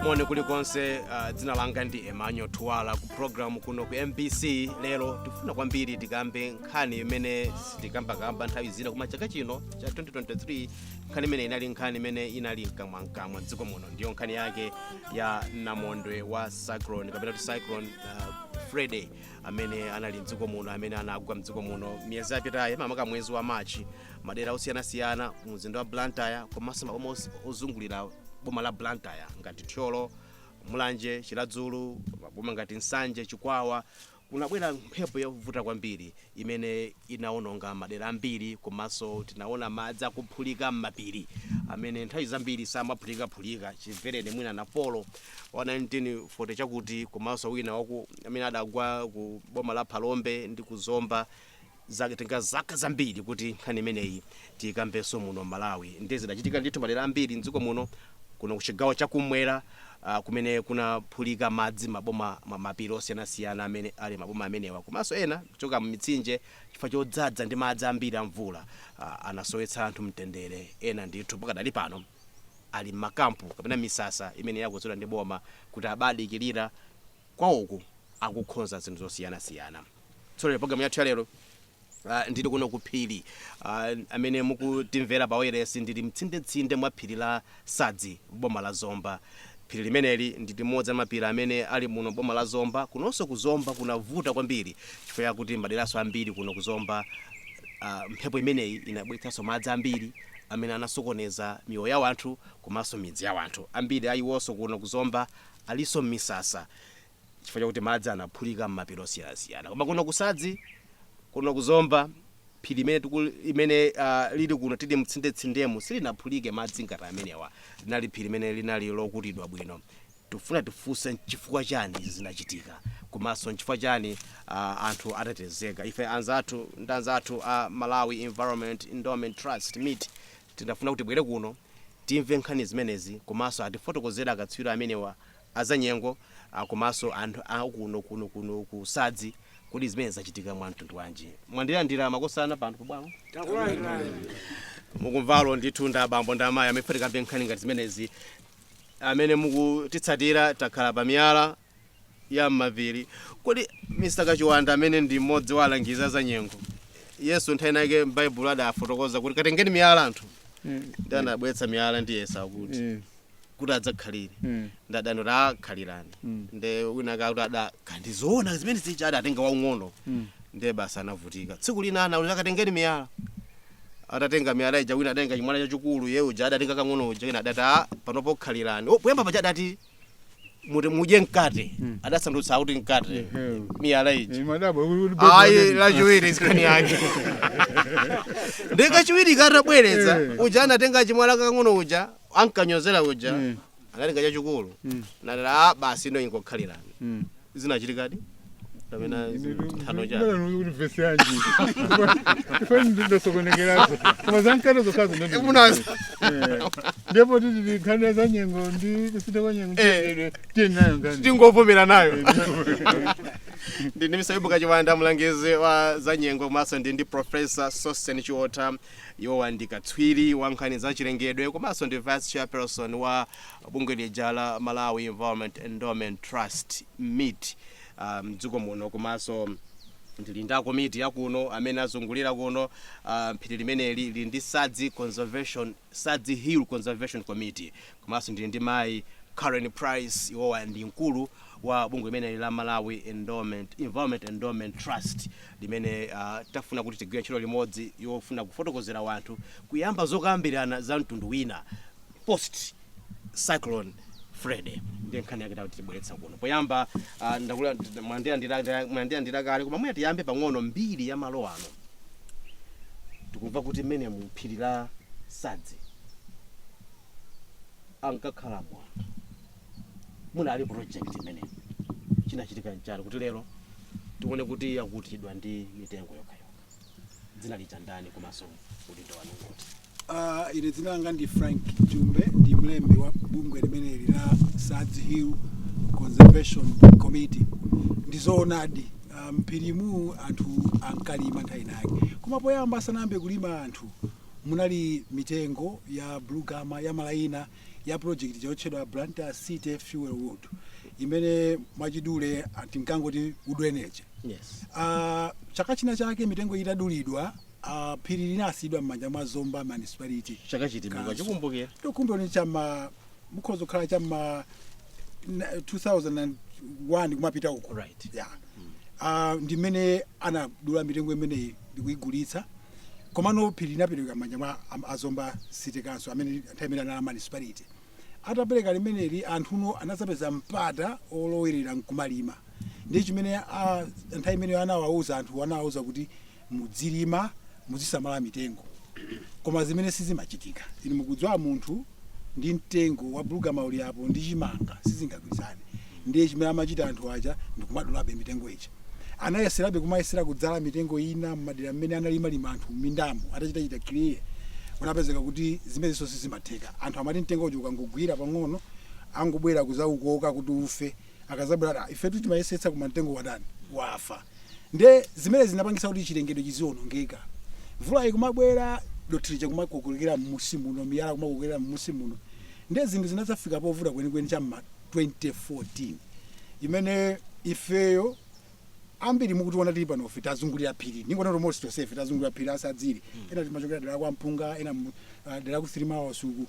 moni kulikonse uh, dzina langa ndi emmanuel thuwala ku programu kuno ku mbc lero tikufuna kwambiri tikambe nkhani imene sitikambakamba nthawi zina koma chaka chino cha 2023 nkhani imene inali nkhani imene inali mkamwamkamwa mdziko muno ndiyo nkhani yake ya namondwe wa cyclone kapena kuti cyclone uh, freddy amene anali mdziko muno amene anagwa mdziko muno miyezi yapitayi mamaka mwezi wa machi madera osiyanasiyana mu mzinda wa blantyre komanso maboma os- ozungulira boma la blantyre ngati thyolo mulanje chiladzulu maboma ngati nsanje chikwawa Kunabwera mphepo yovuta kwambiri imene inawononga madera ambiri komanso tinaona madzi akuphulika m'mapiri amene nthawi zambiri samaphulikaphulika chimvereni mwina Napolo wa 1940 chakuti komanso wina waku amene adagwa ku boma la Phalombe ndi ku Zomba zatenga zaka zambiri kuti nkhani imeneyi tiikambenso muno m'malawi nde zidachitika ndithu madera ambiri mdziko muno kuno kuchigawo chakumwera uh, kumene kunaphulika madzi maboma m'mapiri osiyanasiyana amene ali maboma amenewa komanso ena kuchoka mmitsinje chifukwa chodzadza ndi madzi ambiri a mvula uh, anasowetsa anthu mtendere ena ndithu pakadali pano ali mmakampu kapena misasa imene yakonzedwa ndi boma kuti abadikirira kwawoko akukhonza zinthu zosiyanasiyana Tsopano pulogalamu yathu ya lero ah, ndili kuno ku phiri ah, amene mukutimvera pa wayilesi ndili mtsindetsinde mwa phiri la Sadzi boma la Zomba. Phiri limeneli ndi limodzi la mapiri amene ali muno boma la Zomba. Kunonso ku Zomba kunavuta kwambiri chifukwa chakuti maderanso ambiri kuno ku Zomba ah, mphepo imeneyi inabweretsanso madzi ambiri amene anasokoneza miyoyo ya wanthu komanso midzi ya wanthu. Ambiri a iwonso kuno ku Zomba alinso m'misasa chifukwa chakuti madzi anaphulika m'mapiri osiyanasiyana. Koma kuno ku Sadzi, kuno ku Zomba, phiri limene tiku- limene ah, lili kuno tili mtsindetsindemu silinaphulike madzi ngati amenewa. Linali phiri limene linali lokutidwa bwino. Tifuna tifunse nchifukwa chani izi zinachitika komanso nchifukwa chani ah, anthu atetezeka. Ife anzathu ndi anzathu a Malawi Environment Endowment Trust, MEET, Tinafuna kuti tibwere kuno timve nkhani zimenezi komanso atifotokozere akatswiri amenewa a zanyengo komanso anthu a kuno kuno kuno ku sadzi kuti zimenezi zachitika mwa mtundu wanji. Mwandilandira makosana pano pa bwalo? Takulandirani. Mukumvawo ndithu ndi abambo ndi amayi amene tikambe nkhani ngati zimenezi amene mukutitsatira takhala pa miyala ya m'mapiri. Kodi Mr. Kachiwanda amene ndi mmodzi wa alangizi a zanyengo, Yesu nthawi inayake m'Baibulo adafotokoza kuti katengeni miyala anthu Mm. ndi anabweretsa miyala ndi Yesu akuti Mm. kuti adzakhalire Mm. ndi adani kuti akhalirani Mm. ndi wina ake akuti adakandizoona zimene zija adatenga waung'ono Mm. ndiye basi anavutika tsiku lina anati katengeni miyala atatenga miyala ija wina adatenga chimwala chachikulu iye uja adatenga kang'ono uja wina adati "Ah, pano pokhalirani Oh, poyamba paja adati kuti mudye mkate Mm. adasandutsa kuti mkate Ehe. miyala ija Imadabwa kuli kuti bwezi ayi wake- lachiwiri nkhani yake Nde kachiwiri katabwereza Eh. uja anatenga chimwala kakang'ono uja ankanyozera uja Mm. anatenga chachikulu Mm. nalera "Ah, basi ino ingokhalirani Mm. zinachitikadi kapena nthano chabe kuti vesi yanji ifani ndidosokonekerazo koma zankata zokhazo ndi- Munazi. Eh. ndipo tili pa nkhani ya za nyengo ndi kusintha kwa nyengo Eh. tiyendedwe tiyeni nayo ngani tingovomera nayo ndili ndi Mr. Yobu Kachiwanda mlangizi wa zanyengo komanso ndi ndi Professor Sosten Chiotha iwowa ndi katswiri wa nkhani za chilengedwe komanso ndi vice chairperson wa bungwe lija la Malawi Environment Endowment Trust, MEET, mdziko muno komanso ndili ndi akomiti a kuno amene azungulira kuno. Phiri limeneli lili ndi Sadzi Conservation, Sadzi Hill Conservation Committee komanso ndili ndi mayi Karen Price, iwowa ndi mkulu wa bungwe limeneli la Malawi Endowment, Environment Endowment Trust limene tafuna kuti tigwire ntchito limodzi yofuna kufotokozera wanthu, kuyamba zokambirana za mtundu wina. post cyclone Freddy ndiye nkhani yake yatibweretsa kuno poyamba ah, ndakula mwandilandira mwandilandira kale koma mwina tiyambe pang'ono mbiri ya malo ano tikumva kuti muno mu phiri la Sadzi ankakhala bwa munali project imene chinachitika nchani kuti lero tione kuti yakutidwa ndi mitengo yokhayokha dzina lija ndani komanso udindo wanu kuti Ah, ine dzina langa ndi Frank Jumbe ndi mlembi wa bungwe limeneli la Sadzi Hill Conservation Committee ndi zoonadi ah, mphirimu anthu ankalima nthawi inayake koma poyamba asanayambe kulima anthu munali mitengo ya bulugama ya malayina ya project ija yotchedwa Blantyre City Fuel Wood imene mwachidule ah, tinkangoti wood energy Yes. Ah, chaka china chake mitengo itadulidwa ah, phiri linasiyidwa m'manja mwa Zomba Municipality Chaka chiti Council. mukachikumbukira. Pokumbukira ndi cha m'ma mukhoza kukhala cha m'ma na- 2001 kumapita uko Right. yeah. Ah, ndimene anadula mitengo imeneyi ndikuyigulitsa Komano phiri linapereka m'manja mwa am- a Zomba City Council amene nthawi imene anali a municipality. Atapereka limeneli anthuno anadzapeza mpata olowerera nkumalima. Ndiye chimene nthawi imeneyo anawauza anthu anawauza kuti mudzilima muzisamala mitengo. Koma zimene sizimachitika. Inu mukudziwa munthu ndi mtengo wa bulugama uli apo ndi chimanga sizingagwirizane ndiye chimene amachita anthu aja ndikumadulabe mitengo ija anayeserabe kumayesera kudzala mitengo ina mmadera mmene analimalima anthu mmindamo atachitachita clear kunapezeka kuti zimenezinso sizimatheka anthu amati mtengo uja ukangogwira pang'ono angobwera kuzaukoka kuti ufe akazabwera ati "Ah, ifetu timayesetsa koma mtengo watani wafa nde zimene zinapangisa kuti chilengedwe chizionongeka mvula ikumabwera dothi lija kumakokolokera mmusi muno miyala kumakokolokera mmusi muno nde zinthu zinazafika povuta kwenikweni cha mma 2014 imene ifeyo ambiri mukutiona tili panofe tazungulira phiri ndingonena kuti most tonsefe tazungulira phiri la Sadzi li ena timachokera dera kwa mpunga ena mu- ah, dera ku 3 miles uku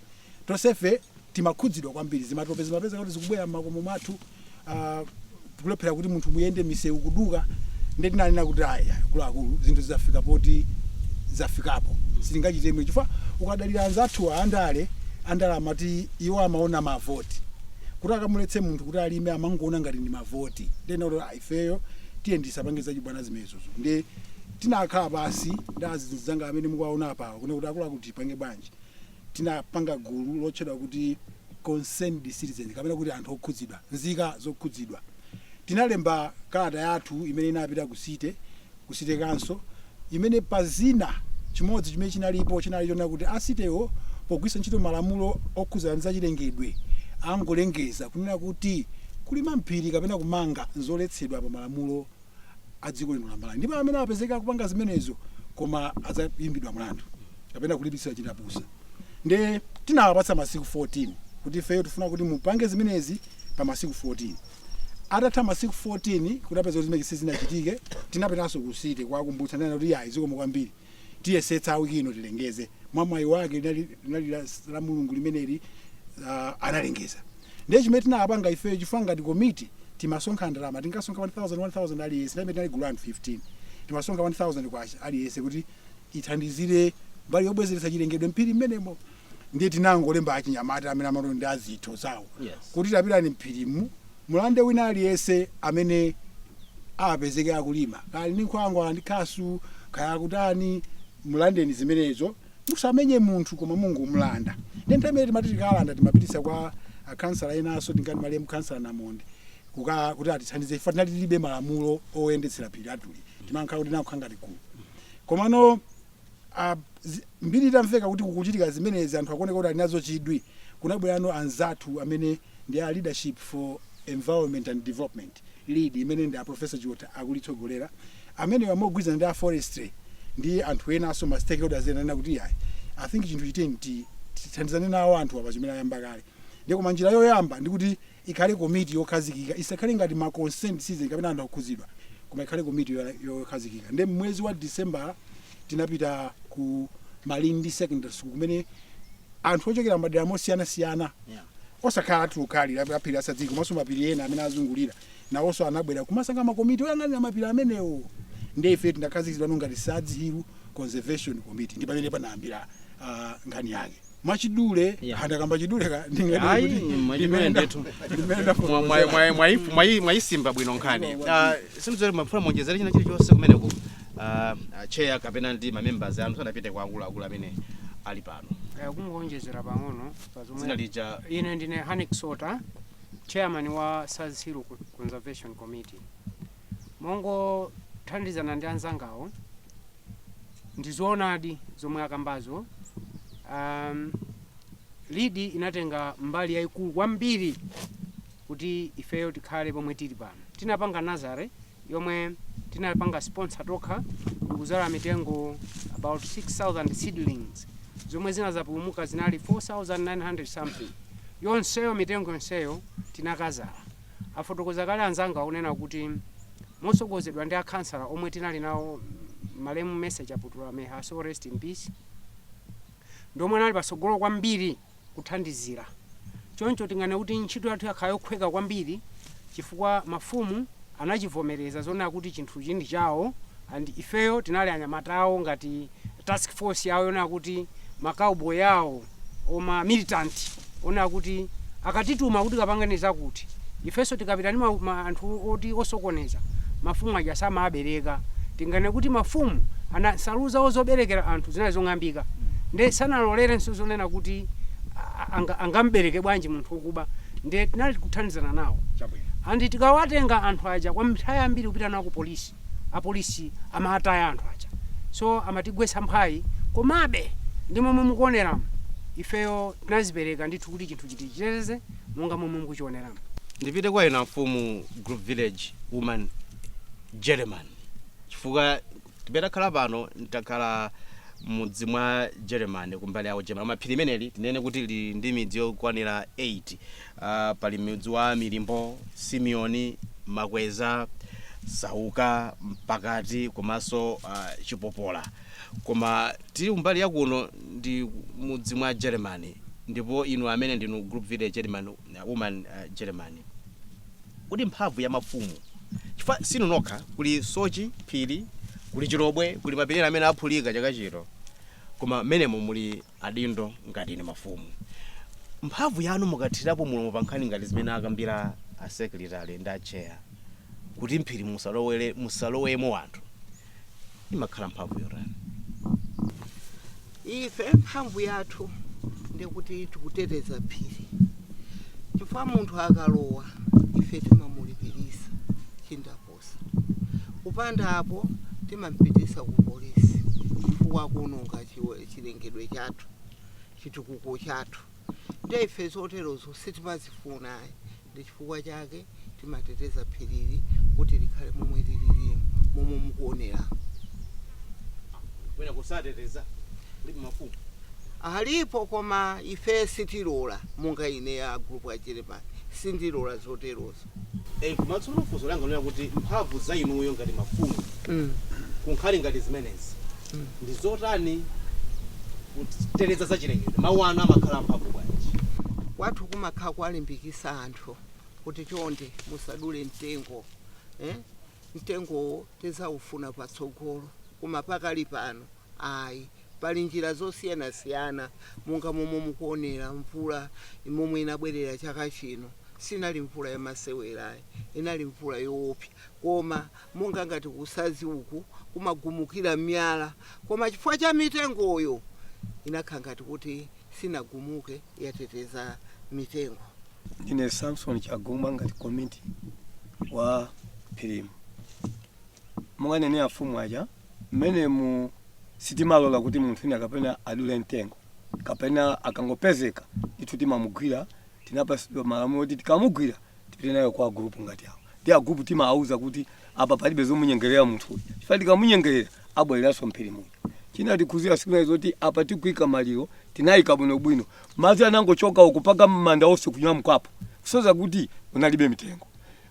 tonsefe timakhudzidwa kwambiri zimatope zimapeza kuti zikubwera m'makomo mwathu ah, tikulephera kuti munthu muyende misewu kuduka nde tinanena kuti aya akuluakulu zinthu zafika poti zafikapo sitingachitire mwina chifukwa ukadalira anzathu andale andale amati iwo amaona mavoti kuti akamuletse munthu kuti alime amangoona ngati ndi mavoti nde tinati "Ah, ifeyo tiyeni tisapange zachibwana zimenezozo nde tinakhala pansi ndi azinzanga amene mukuwaona apawa kunena kuti akuluakulu tipange bwanji tinapanga gulu lotchedwa kuti concerned citizen kapena kuti anthu okhudzidwa nzika zokhudzidwa tinalemba kalata yathu imene inapita ku city ku City Council, imene pa zina, chimodzi chimene chinalipo chinali chonena kuti a City-wo pogwiritsa ntchito malamulo okhudzana ndi zachilengedwe angolengeza kunena kuti kulima m'phiri kapena kumanga n'zoletsedwa pa malamulo a dziko lino la Malawi ndipo amene apezeka akupanga zimenezo koma adzayimbidwa mlandu kapena kulipitsidwa chindapusa nde tinawapatsa masiku 14 kuti ifeyo tifuna kuti mupange zimenezi pa masiku 14. Atatha masiku 14 kunapezeka kuti zimenezi sizinachitike, tinapitanso ku City kuwakumbutsa. Ananena kuti, Iyayi, zikomo kwambiri. Tiyesetsa wiki ino tilengeze. Mwamwayi wake linali linali la Lamlungu limeneli ah, analengeza. Ndiye chimene tinapanga ifeyo chifukwa ngati komiti timasonkha ndalama, timasonkha 1,000, 1,000 aliyense, nthawi imene tinali gulu la anthu 15. Timasonkha 1,000 kwacha aliyense kuti ithandizire mbali yobwezeretsa chilengedwe m'phiri mmenemo. ndiye tinangolemba achinyamata amene amati ndi azitho zawo Yes. kuti tapitani mphirimu mulande wina aliyense amene apezeke akulima kaya ndi nkhwangwa ndi khasu kaya akutani mulandeni zimenezo musamenye munthu koma mungomulanda ndi nthawi imene tinkati tikalanda timapititsa kwa akhansala enanso tingati malemu khansala namonde kuti atithandize ife tinali tilibe malamulo oyendetsera phiri atuli timankhala kuti nankhala ngati gulu komano a zi- mbiri itamveka kuti kukuchitika zimenezi anthu akuoneka kuti ali nazo chidwi kunabwerano anzathu amene ndi a leadership for environment and development lead imene ndi a professor chiotha akulitsogolera amenewa mogwirizana ndi a forestry ndi anthu enanso ma stakeholders ena anena kuti yayi i think chinthuchi tiyeni tithandizane nawo anthu apa chimene ayamba kale ndiye koma njira yoyamba ndikuti Ikhale komiti yokhazikika, isakhale ngati ma concerned citizen kapena anthu okhudzidwa koma ikhale komiti yoya- yokhazikika. Nde mmwezi wa December tinapita ku Malindi Secondary School kumene anthu ochokera madera mosiyanasiyana osakhala athu okha a phiri la Sadzi komanso mapiri ena amene azungulira nawonso anabwera kumasankha makomiti oyang'anira mapiri amenewo nde ife tinakhazikitsidwa ngati Sadzi Hill Conservation Committee ndi pamene panayambira ah, nkhani yake mwachidule Yeah. andakamba chiduleka Ayi, mwachidule ndithu. mwayisimba bwino nkhani Ah, sindidziwa mumafuna muonjezere china chilichonse kumeneko Ah, ah, chair kapena ndi mamembers anu tisanapite kwa akuluakulu amene ali pano Eh, kungonjezera pang'ono pa zomwe- dzina lija ine ndine hanik sota chairman wa sadzi hill Co- conservation committee mongothandizana ndi anzangawo ndizoonadi zomwe akambazo um, lead inatenga mbali yayikulu kwambiri kuti ifeyo tikhale pomwe tili pano tinapanga nazare yomwe tinapanga sponsor tokha ndikuzala mitengo about 6000 seedlings zomwe zinazapulumuka zinali 4900 something yonseyo mitengo yonseyo tinakazala afotokoza kale anzanga kunena kuti motsogozedwa ndi akhansala omwe tinali nawo malemu Mercy Kaputula, may her soul rest in peace, ndi omwe anali patsogolo kwambiri kuthandizira. Choncho tinganene kuti ntchito yathu yakhala yokhweka kwambiri chifukwa mafumu anachivomereza zonena kuti chinthuchi ndi chawo and ifeyo tinali anyamata awo ngati task force yawo yonena kuti ma cowboy awo or ma militant onena kuti akatituma kuti kapangeni zakuti ifenso tikapita ndi ma- ma- anthu oti osokoneza mafumu aja samabereka tingane kuti mafumu aja nsalu zawo zoberekera anthu zinali zong'ambika nde sanalolerenso zonena kuti a- anga- angambereke bwanji munthu wokuba nde tinali kuthandizana nawo chabwino and tikawatenga anthu aja kwa nthawi yambiri kupita nawo ku polisi apolisi amataya anthu aja so amatigwetsa mphwayi komabe ndi momwe mukuoneramu ifeyo tinazipereka ndithu kuti chinthu tichiteteze monga momwe mukuchioneramu ndipite kwa inu mfumu group village woman german chifukwa tili takhala pano takhala mudzi mwa german kumbali yawo german koma phiri limeneli tinene kuti lili ndi midzi yokwanira 8 Uh, pali mudzi wa Milimbo, Simeoni, Makweza, Sauka, Mpakati komanso uh, Chipopola. Koma tili kumbali ya kuno ndi mudzi mwa German ndipo inu amene ndinu group village German uh, woman uh, German. Kodi mphamvu ya mafumu chifukwa sinu nokha kuli Soche Phiri, kuli Chilobwe, kuli mapiri amene aphulika chaka chino. Koma menemo muli adindo ngati inu mafumu mphamvu yanu mukathirapo mulomo pa nkhani ngati zimene akambira a secretary ndi a chair kuti m'phiri musalowele musalowemo anthu imakhala mphamvu yotani ife mphamvu yathu ndikuti tikuteteza phiri chifukwa munthu akalowa ife timamulipirisa chindapo Kupanda apo, timam'pititsa ku polisi chifukwa akuononga chilengedwe chathu, chitukuko chathu. Ndiye ife zoterozo sitimazifuna ayi. Ndi chifukwa chake timateteza phirili kuti likhale momwe lililimu, momwe mukuoneramu. Mwina kusateteza kulibe mafumu? Alipo, koma ife sitilola. Monga ine, a Gulupu a Jeremani, sindilola zoterozo. Eh, koma tsono funso langa lonena kuti mphamvu za inuyo ngati mafumu Mm. kunkhani ngati zimenezi ndi zotani kuteteza za chilengedwe mawu anu amakhala amphamvu bwanji kwathu kumakhala kuwalimbikitsa anthu kuti chonde musadule mtengo eh? mtengowo tidzaufuna patsogolo koma pakali pano ayi Pali njira zosiyanasiyana monga momwe mukuonera mvula momwe inabwerera chaka chino sinali mvula ya masewera ayi inali mvula yoopsa koma monga ngati ku Sadzi uku kumagumukira miyala koma chifukwa cha mitengoyo inakhala ngati kuti sinagumuke yateteza mitengo. Ndine Samson Chaguma ngati komiti wa phirimu monga anena afumu aja Mmenemu sitimalola kuti munthu wina kapena adule mtengo kapena akangopezeka ndithu timamugwira. Tinapatsidwa malamulo oti tikamugwira tipite naye kwa agulupu ngati awa. Ndiye agulupu timawauza kuti apa palibe zomunyengerera munthu uyu chifukwa tikamunyengerera abwereranso m'phiri muja. Chinatikhudzira tsiku lina loti apa tikuika maliro tinaika bwinobwino, madzi anangochoka uku mpaka manda onse kunyamukapo kusonyeza kuti kunalibe mitengo.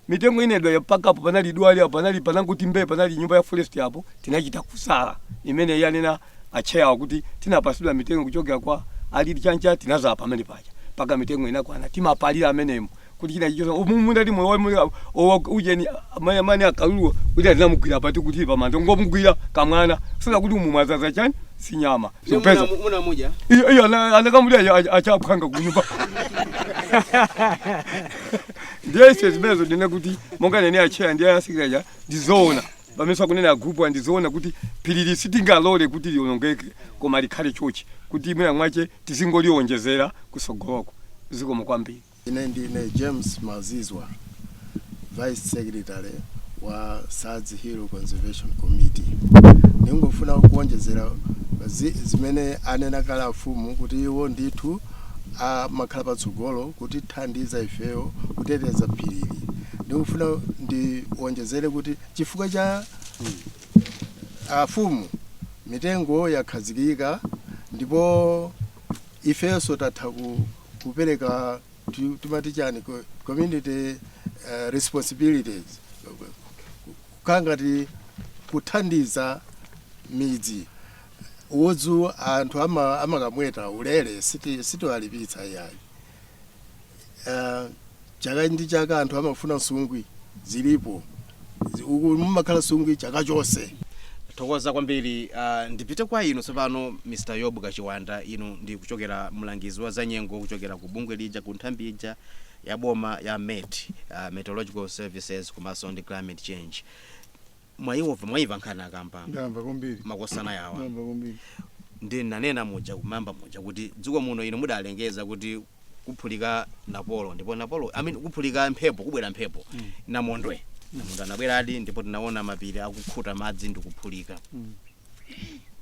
Mitengo inedwa mpaka apo panali dwale apo panangoti mbee panali nyumba ya forest apo tinachita kusala imene yanena atcheyawa kuti tinapasidwa mitengo kuchokera kwa a LEAD Chanco tinadzala pamene paja mpaka mitengo inakwana timapalira amenemo kuti china chichoke mmunda ndi moyo wamuli owa ujeni amene amene akalulu kuti atinamugwira pati kuti pamanda ngomugwira kamwana sina kuti umwazaza chani sinyama sukupeza muna muja iyo iyo ana- anakamulira achaphwanga kunyumba ndiye ife zimenezo ndinene kuti monga anena acheya ndi asekeretale ndizoona pamenenso akunena agrupu ndizoona kuti phirili sitingalole kuti lionongeke koma likhale chochi kuti mwina mwache tizingolionjezera kusogoloko zikomo kwambiri ine ndine james mazizwa vice secretary wa sadzi hill conservation committee ndingofuna kuonjezera zi- zimene anena kale afumu kuti iwo ndithu amakhala patsogolo kutithandiza ifeyo kuteteza phirili ndikufuna ndiwonjezere kuti chifukwa cha afumu mitengo yakhazikika ndipo ifenso tatha ku, kupereka ti- timati chani co- community uh, responsibilities kukhala ngati kuthandiza midzi Udzu anthu ama, amakamweta ulere siti sitiwalipitsa iyayi. Uh, chaka ndi chaka anthu amafuna nsungwi zilipo Zi- uku mumakhala nsungwi chaka chonse. Thokoza kwambiri. Uh, ndipite kwa inu tsopano Mr. Yobu Kachiwanda, inu ndi kuchokera mlangizi wa zanyengo kuchokera ku bungwe lija ku nthambi ija ya boma ya MET, uh, Meteorological Services komanso ndi Climate Change. mwayimva mwayimva nkhani akamba ndamva kwambiri makosana awa ndamva kwambiri ndi nanena muja kumayamba muja kuti dziko muno inu mudalengeza kuti kuphulika napolo ndipo napolo I mean, kuphulika mphepo kubwera mphepo mm. namondwe namondwe anabweradi ndipo tinaona mapiri akukhuta madzi ndikuphulika mm.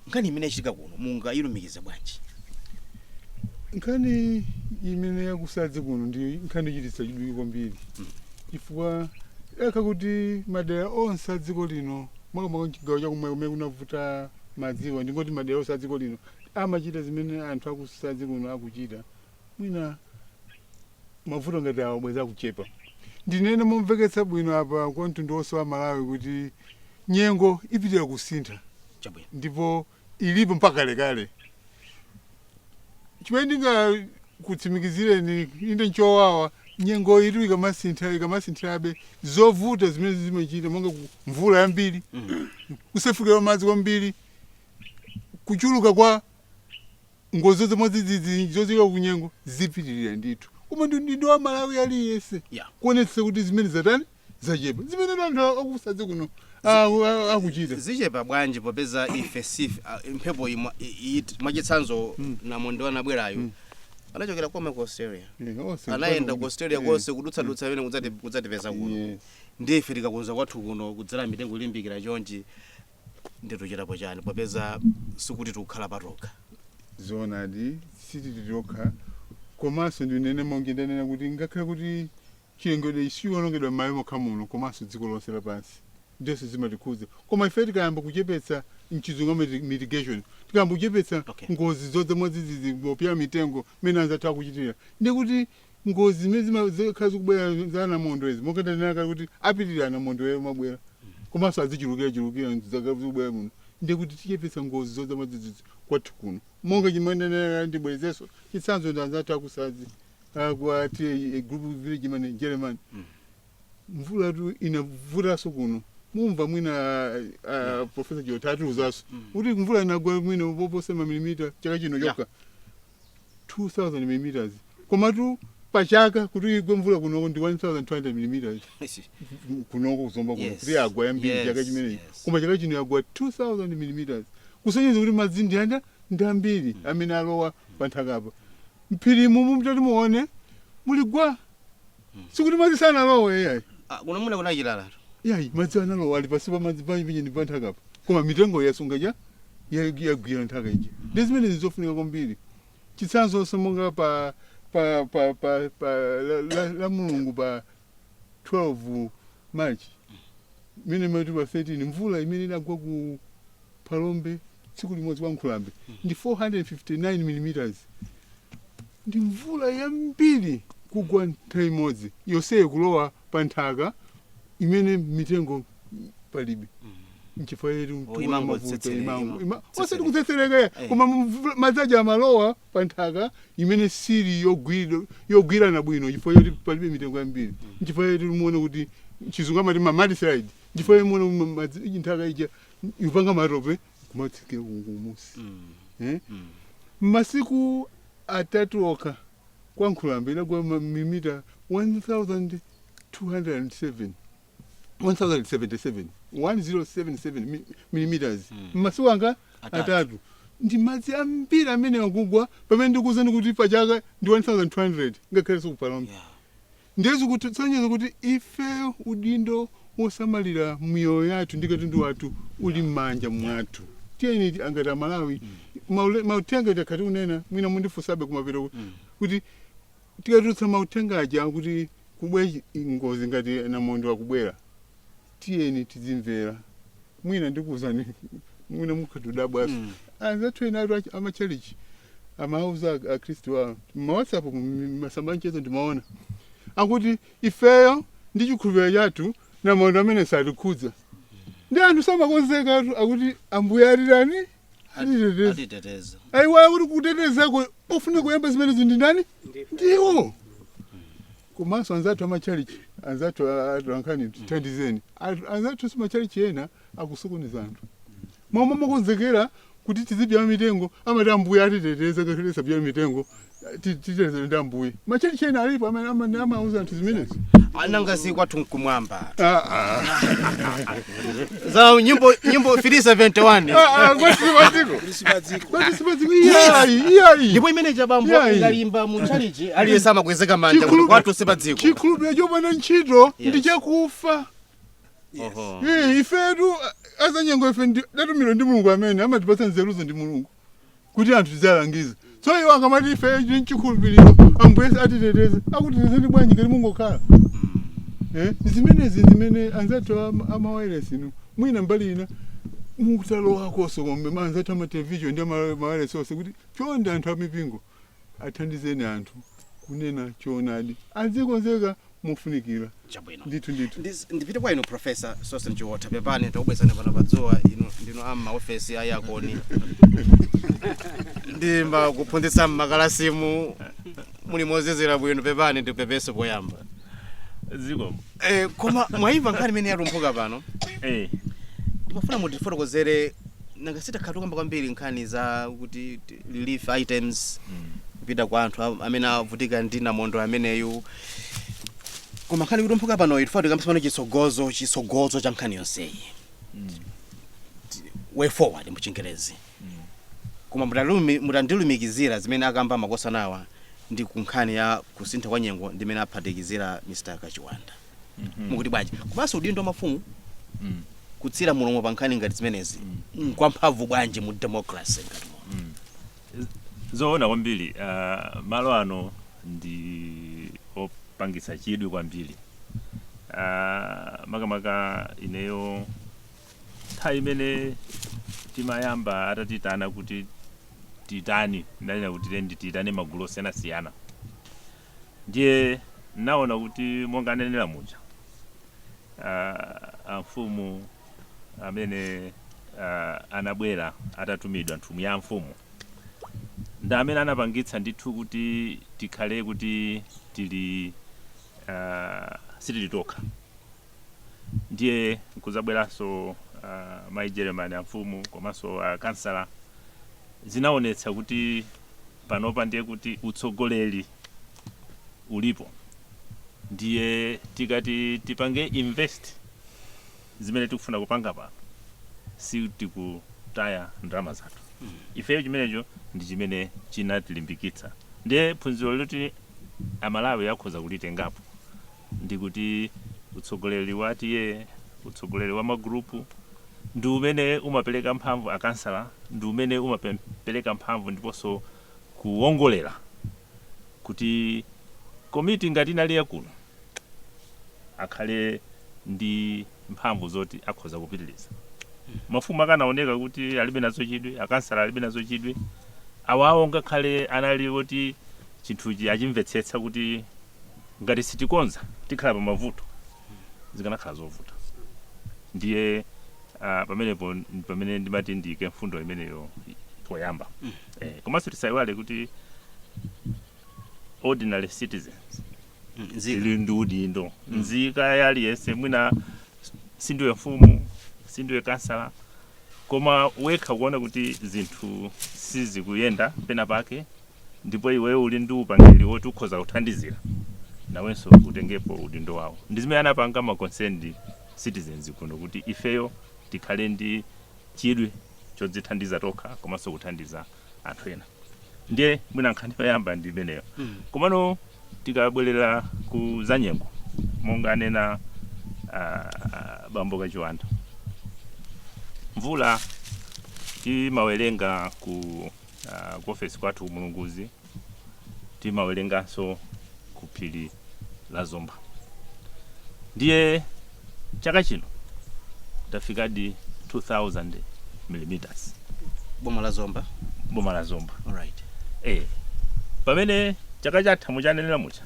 nkhani imene yachitika kuno mungayilumikize bwanji nkhani imene yakusadzi kuno ndi nkhani yochititsa chidwi kwambiri chifukwa akakhala kuti madera onse a dziko lino makamaka mchigawo chakummwera kumene kunavuta madziwa ndingoti madera onse a dziko lino amachita zimene anthu akusadzi kuno akuchita mwina mavuto ngati awa bwenzi akuchepa ndinene momveketsa bwino apa kwa mtundu wonse wa amalawi kuti nyengo ipitilira kusintha chabwino ndipo ilipo mpaka kalekale chimene ndingakutsimikizireni inde nchowawa nyengo iyi ikamasintha ikamasinthirabe zovuta zimene zimachita monga ku- mvula yambiri kusefukira madzi kwambiri kuchuluka kwa Ngozi zamwadzidzidzi zochokera kunyengo zipitilira ndithu koma ndi udindo wa m'Malawi aliyense Yeah. kuonetsetsa kuti zimene zatani zachepa zimene anthu akusadzi kuno a- a- akuchita zichepa bwanji popeza ife sife ah, mphepo imwa- i- i- mwachitsanzo namondwe anabwerayo anachokera koma ku australia Eh, onse anayenda ku australia konse kudutsadutsa imene kudzati- kudzatipeza kuno Yes. ndife tikakonza kwathu kuno kudzala mitengo ilimbikira chonchi ndithu chitapo chani popeza sikuti tikukhala patokha zoonadi sitili tokha komanso ndinene monga ndanena kuti ngakhale kuti chilengedwe sichiwonongedwa m'malo mokha muno komanso dziko lonse lapansi ndinso zimatikhuza koma ife tikayamba kuchepetsa mchizungu amati mitigation tikayamba kuchepetsa Okay. ngozi zodza mwadzidzidzi pobyala mitengo mmene anzathu akuchitira ndi kuti ngozi zimene zima- zikhala zikubwera za anamondwe izi monga ndanena kale kuti apitirira anamondwewa kumabwera komanso azichulukirachulukira zaka zikubwera muno ndiye kuti tichepetse ngozi zodza mwadzidzidzi kwathu kuno monga chimene ndanena kale ndibwerezenso chitsanzo ndi anzathu akusadzi akwa group village headman jeremani mvulatu inavutanso kuno mumva mwina ah, ah, profesa jota atiuzanso kuti mvula inagwa mwina poposa mamilimita chaka chino chokha 2000 millimeters komatu pa chaka kuti igwe mvula kunoko ndi 1200 millimeters kunoko kuzomba kuno Yes. kuti yagwa yambiri Yes, chaka chimenechi yes. koma chaka chino yagwa 2000 millimeters kusonyeza kuti madzi ndi anda ndi ambiri amene alowa panthakapa mphirimu mumtati muone muli gwa sikuti madzi sanalowe iyayi Ah, kuno muna kuna chilalatu iyayi madzi analowa ali pansipa madzi pamene ndi panthakapa koma mitengo yasunga ja ya- yagwira nthaka ija ndi zimene zizofunika kwambiri chitsanzonso monga pa pa pa pa, pa la, la, la mulungu pa 12 march imene mumati pa 13 mvula imene inagwa ku phalombe tsiku limodzi kwa Nkhulambe ndi 459 millimeters ndi mvula yambiri kugwa nthawi imodzi yonseyo kulowa pa nthaka imene mitengo palibe nchifukwa yake Oh, tuona imangoti mavuto tsetsereka, imango imango ima- osati tsetsereka. kutsetsereka Eh. koma mvula- madzi aja amalowa pa nthaka imene sili yogwira- yogwirana bwino chifukwa yoti palibe mitengo yambiri nchifukwa yake muone kuti chizungu amati ma mudslide nchifukwa yake muone kuti madzi- nthaka ija ikupanga matope kumatsikira kumunsi eh? mmasiku atatu okha kwa nkhulambe inagwa mamilimita 1207 1077 1077 mi- millimeters mmasiku anga Atatu. atatu ndi madzi ambiri amene akugwa pamene ndikuwuzani kuti pachaka ndi 1200 ngakhalenso ku phalombe Yeah. Ndiye zikutisonyeza kuti ifeyo udindo wosamalira miyoyo yathu ndi katundu wathu uli m'manja mwathu. Tiyeni ti- ngati Amalawi, maule- mauthenga takhala tikunena, mwina mundifunsabe kumapeto ku- kuti tikatulutsa mauthenga aja kuti kubwera ngozi ngati namondwe akubwera, tiyeni tidzimvera mwina ndikuuzani mwina mukhoza kudabwanso mm. anzathu enatu ach- amachalichi amauza ak- akhristu awo m'ma WhatsApp masamba a mchezo ndimaona akuti ifeyo ndi chikhulupiriro chathu namondwe ameneyu satikhudza ndi anthu samakonzekatu akuti ambuye atirani atiteteza atiteteza ayiwala kuti kutetezako ofunika kuyamba zimenezo ndi ndani ndi iwo Komanso anzathu a matchalitchi, anzathu a atolankhani, tithandizeni. Anthu- Anzathunso a matchalitchi ena akusokoneza anthu. Momwe timakonzekera kuti tizibzala mitengo, amati ambuye atiteteza ngakhale tisabzale mitengo, ti- titetezedwa ndi ambuye. Matchalitchi ena alipo amene amene amauza anthu zimenezo. Nanga si kwathu nkumwamba. Ah, ah. za nyimbo nyimbo 371 Ah, ah, kwathu sipadziko kwathu sipadziko iyayi iyayi ndipo imeneyo Chabambo Yeah. ikayimbidwa mu chalichi aliyense amakweza manja kuti Chikhulupiriro- kwathu sipadziko chikhulupiriro chopanda ntchito Yes. ndi chakufa Oho. Eh, ifetu azanyengo ife ndi- tatumidwa ndi mulungu amene amatipatsa nzeruzo ndi mulungu kuti anthu tiziwalangiza so iwo akamati ife ndi chikhulupiriro ambuye atiteteze akutetezeni bwanji ngati mungokhala Eh, zimenezi zimene anzathu ama- amawayilesi inu mwina mbali ina mukutalowakonso komanso anzathu amatelevision ndi amawayilesi onse kuti chonde anthu amipingo athandizeni anthu kunena choonadi azikonzeka mofunikira chabwino ndithu ndithu Ndiz- ndipite kwa inu profesa Sosten Chiotha pepani takubweretsani pano padzuwa inu ndinu a m'maofesi a aircon ndi pokaphunzitsa m'makalasimu muli mozizira bwino pepani ndipepese poyamba zikomo Eh, koma mwayimva nkhani imene yalumphuka pano Eh. ndimafuna mutifotokozere nanga si takhala tikukamba kwambiri nkhani za kuti t- relief items kupita kwa anthu am- amene avutika ndi namondwe ameneyu koma nkhani yalumphuka pano tifuna tikambe pano chitsogozo chitsogozo cha nkhani yonseyi Ti- way forward muchingerezi Koma mutandilumikizira zimene akamba makosanawa ndi ku nkhani ya kusintha kwa nyengo ndi imene aphatikizira Mr Kachiwanda mukuti bwanji? Komanso udindo wa mafumu kutsira mulomo pa nkhani ngati zimenezi nkwamphamvu bwanji mu democracy ngati muno? Zoona kwambiri uh, malo ano ndi opangitsa chidwi kwambiri uh, makamaka ineyo nthawi imene timayamba atatitana kuti titani ndanena kuti tiyeni tiyitane magulu osiyanasiyana ndiye naona kuti monga ananena muja uh, amfumu amene uh, anabwera atatumidwa nthumwi ya mfumu ndi amene anapangitsa ndithu kuti tikhale kuti tili uh, sitili tokha ndiye kudzabweranso uh, mai Jeremani amfumu komanso akansala uh, zinaonetsa kuti panopa ndiye kuti utsogoleri ulipo, ndiye tikati tipange invest zimene tikufuna kupanga pano, si tikutaya ndalama zathu hmm. ifeyo. Chimenecho ndi chimene chinatilimbikitsa, ndiye phunziro loti amalawi akhoza kulitengapo. ndi kuti utsogoleri wa TA, utsogoleri wa magulupu ndi umene umapereka mphamvu akansala, ndi umene umapereka mphamvu ndiponso kuwongolera kuti komiti ngati inayi ya kuno akhale ndi mphamvu zoti akhoza kupitiriza. Mafumu akanaoneka kuti alibe nazo chidwi, akansala alibe nazo chidwi, awawo ngakhale anali oti chinthuchi achimvetsetsa kuti. ngati sitikonza tikhala pa mavuto zikanakhala zovuta ndiye ah, pamenepo ndi pamene ndimati ndiyike mfundo imeneyo poyamba eh, komanso tisayiwale kuti ordinary citizens ali ndi udindo nzika ina iliyonse mwina sindiwe mfumu sindiwe kansala koma wekha kuona kuti zinthu sizikuyenda pena pake ndipo iweyo uli ndi upangiri woti ukhoza kuthandizira nawenso utengepo udindo wawo ndi zimene anapanga ma concerned citizens kuno kuti ifeyo tikhale ndi chidwi chodzithandiza tokha komanso kuthandiza anthu ena ndiye mwina nkhani yoyamba ndi imeneyo komano tikabwerera ku zanyengo monga anena ah, bambo kachiwanda mvula timawerenga ku ah, ku ofesi kwathu ku Mulunguzi timawerenganso ku phiri la zomba ndiye chaka chino tafikadi 2000 millimeters boma la zomba boma la zomba alright eh pamene chaka chatha munanenera muja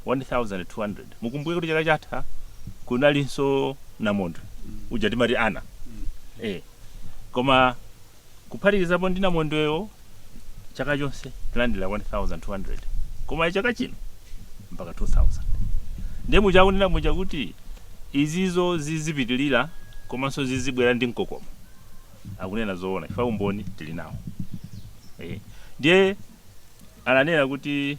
1200 mukumbuke kuti chaka chatha kunalinso namondwe uja timati ana eh koma kuphatikizapo ndi namondwewo, chaka chonse tilandira 1,200 koma chaka chino mpaka 2,000. Ndiye muja akunena muja kuti izizo zizipitirira komanso zizibwera ndi mkokomo, akunena zoona chifukwa umboni tili nawo. Eh, Ndiye ananena kuti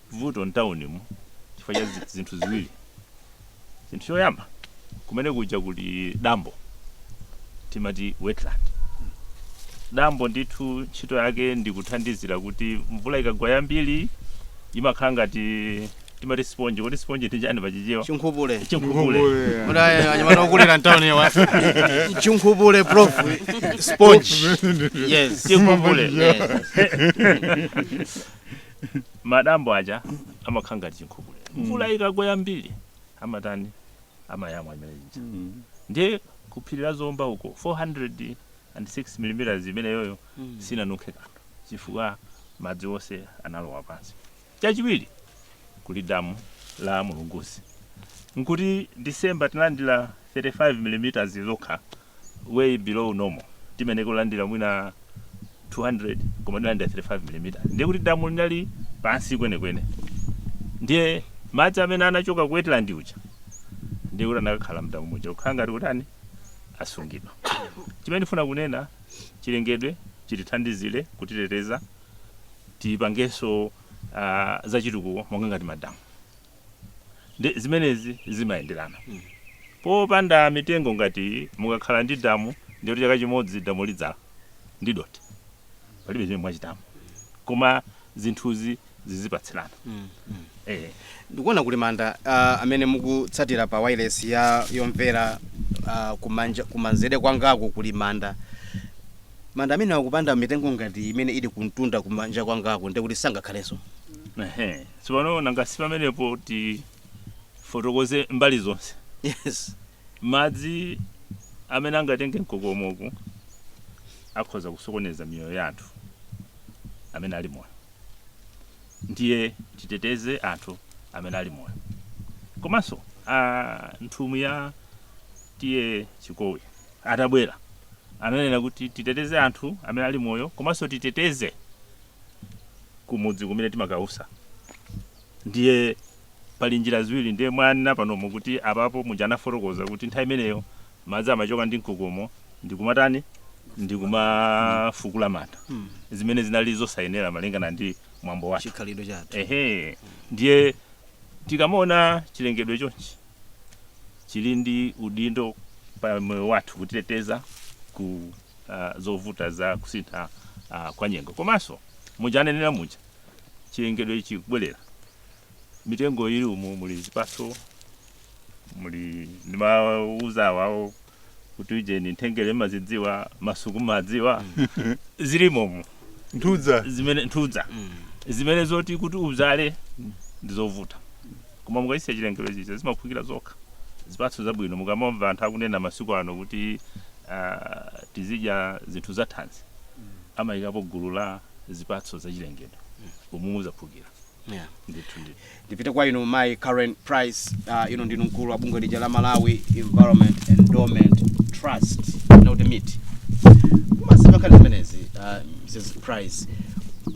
vuto mtaunimu chifukwa cha zi- zinthu ziwiri chinthu choyamba kumene kuja kuli dambo timati wetland dambo ndithu ntchito yake ndi kuthandizira kuti mvula ikagwa yambiri imakhala ngati timati sponge kodi sponge ndi chani pachichewa chinkhupule chinkhupule kuti anyamata okulira mtauniwa chinkhupule prof sponge yes chinkhupule Yes. Madambo aja amakhala ngati chinkhupule. Mvula ikagwa yambiri amatani? Amayamwa imene ija. Ndiye ku phiri la Zomba uko 406 millimeters imeneyoyo sinanunkhe kanthu chifukwa madzi onse analowa pansi. Chachiwiri, kuli damu la Mulunguzi. N'kuti December tinalandira 35 millimeters zokha way below normal timayeneka kulandira mwina 200 koma tinalandira 35 milimita ndiye kuti damu linali pansi kwenekwene ndiye madzi amene anachoka ku wetland uja ndiye kuti anakakhala mdamu muja kukhala ngati kutani asungidwa chimene ndifuna kunena chilengedwe chitithandizire kutiteteza tipangenso uh, zachitukuko monga ngati madamu Ndiye zimenezi zimayenderana. Popanda mitengo ngati iyi, mukakhala ndi damu, ndiye kuti chaka chimodzi damu lidzala ndi dothi. Palibe chimene mwachitamo. Koma zinthuzi zizipatsirana. Eh. Ndikuona kuli manda ah, amene mukutsatira pa wireless yomvera ah, kumanja kumanzere kwangaku kuli manda. Manda amenewa kupanda mitengo ngati imene ili kumtunda kumanja kwangaku ndikuti sangakhalenso. Ehe. Tsopano nanga si pamenepo tifotokoze mbali zonse. Yes. Madzi amene angatenge mkokomoku akhoza kusokoneza miyoyo ya anthu amene ali moyo. Ndiye titeteze anthu amene ali moyo. Komanso a nthumwi ya T/A Chikowi atabwera ananena kuti titeteze anthu amene ali moyo komanso titeteze kumudzi kumene timakausa ndiye pali njira ziwiri ndiye mwanena panomo kuti apapo muja anafotokoza kuti nthawi imeneyo madzi amachoka ndi mkokomo ndikumatani ndikumafukula manda zimene zinali zosayenera malingana ndi mwambo wake chikhalidwe chathu ehe ndiye tikamaona chilengedwe chonchi chili ndi udindo pa moyo wathu kutiteteza ku ah, zovuta za kusintha ah, kwa nyengo komanso muja ananenera muja chilengedwe chikubwerera mitengo ili umu muli zipatso muli ndimawauza awawo kuti ujeni nthengere mumazidziwa masuku mumawadziwa zilimo umu nthudza zimene nthudza zimene zoti kuti ubzale ndizovuta koma mukachisiya chilengedwecho zimaphukira zokha zipatso zabwino mukamamva anthu akunena masiku ano kuti uh, tizidya zinthu za thanzi amayikapo gulu la zipatso zachilengedwe umu muzaphukira yeah. ndithu ndithu Ndipite kwa inu mayi Karen Price, uh, inu ndinu mkulu wa bungwe lija la Malawi Environment Endowment Trust, kunoko timati MEET. Mumazimva nkhani zimenezi, uh, Mrs. Price,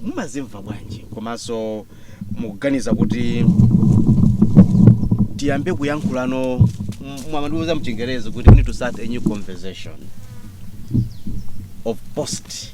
mumazimva bwanji komanso mukuganiza kuti tiyambe kuyankhulana mwandiuza mchingerezi kuti we need to start a new conversation of post